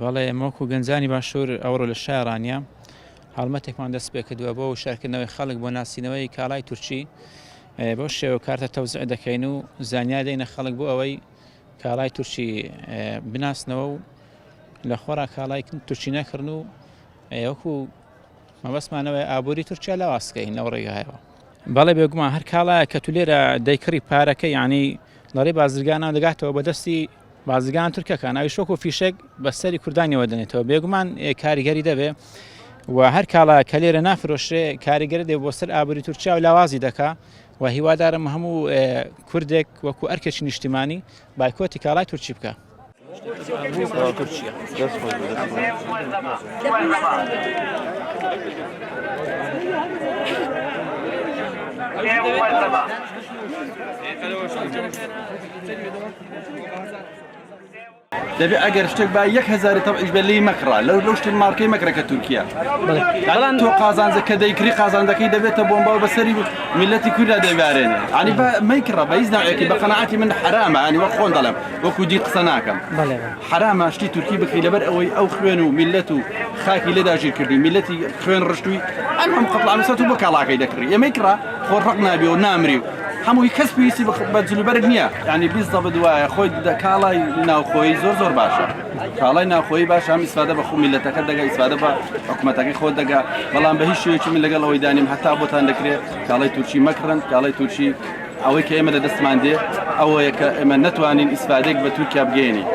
بەڵێ ئێمە وەکو گەنجانی باشوور ئەوڕۆ لە شای ڕانیە هەڵمەتێکمان دەست پێکردووە بۆ شارکردنەوەی خەڵک بۆ ناسینەوەی کاڵای تورکی بۆ شێوە کارتە تەوزع دەکەین و زانیار دەینە خەڵک بۆ ئەوەی کاڵای تورکی بناسنەوە و لە خۆرا کاڵای تورکی نەکردن و وەکو مەبەستمان ئەوەیە ئابووری تورکیا لاواز بکەین لەو ڕێگایەوە. بەڵێ بێگومان هەر کاڵایەک کە تو لێرە دەیکڕی پارەکە یانی لەڕێی بازرگانان دەگاتەوە بە دەستی بازرگان تورکەکان ئەویش وەکو فیشەک بە سەری کوردانیەوە دەنێتەوە بێگومان کاریگەری دەبێ و هەر کاڵا کە لێرە نافرۆشرێ کاریگەری دێ بۆ سەر ئابووری تورکیا و لاوازی دەکا و هیوادارم هەموو کوردێک وەکو ئەرکێکی نیشتیمانی بایکۆتی کاڵای تورکی بکە دەبێ ئەگەر شتێک با یەک هزاری تەعیش بە لی مەکڕا لەو لەو شتن مارکەی مەکرەکە تورکیا بەڵام تۆ قازانجە کە دەیکری قازانجەکەی دەبێتە بۆمبا و بەسەری میلەتی کوردا دەبارێنێ عنی بە مەکڕە بەیز ناوێکی بە قەنەعاتی من حرامە عنی وە خۆن دەڵێم وەکو دی قسە ناکەم حرامە شتی تورکی بکری لەبەر ئەوەی ئەو خوێن و میلەت و خاکی لێدا ژیر کردی میلەتی خوێن ڕشتوی ئەم هەم قەڵامسەت و بە کاڵاکەی دەکڕی ئەمەی کڕا خۆ ڕق نابێ و نامری و هەمووی کەس پێویستی بە جلوبەرگ نییە ینی بیست دە بدوایە خۆی کاڵای ناوخۆی زۆر زۆر باشە کاڵای ناوخۆی باش هەم ئیسفادە بە خۆ میلەتەکە دەگە ئیسفادە بە حکوومەتەکەی خۆ دەگە بەڵام بە هیچ شوێکی من لەگەڵ ئەوەی دانیم هەتا بۆتان دەکرێت کاڵای تورکی مەکڕن کاڵای تورکی ئەوەی کە ئێمە لە دەستمان دێ ئەوەیە کە ئێمە نەتوانین ئیسفادەیەک بە تورکیا بگەیەنین.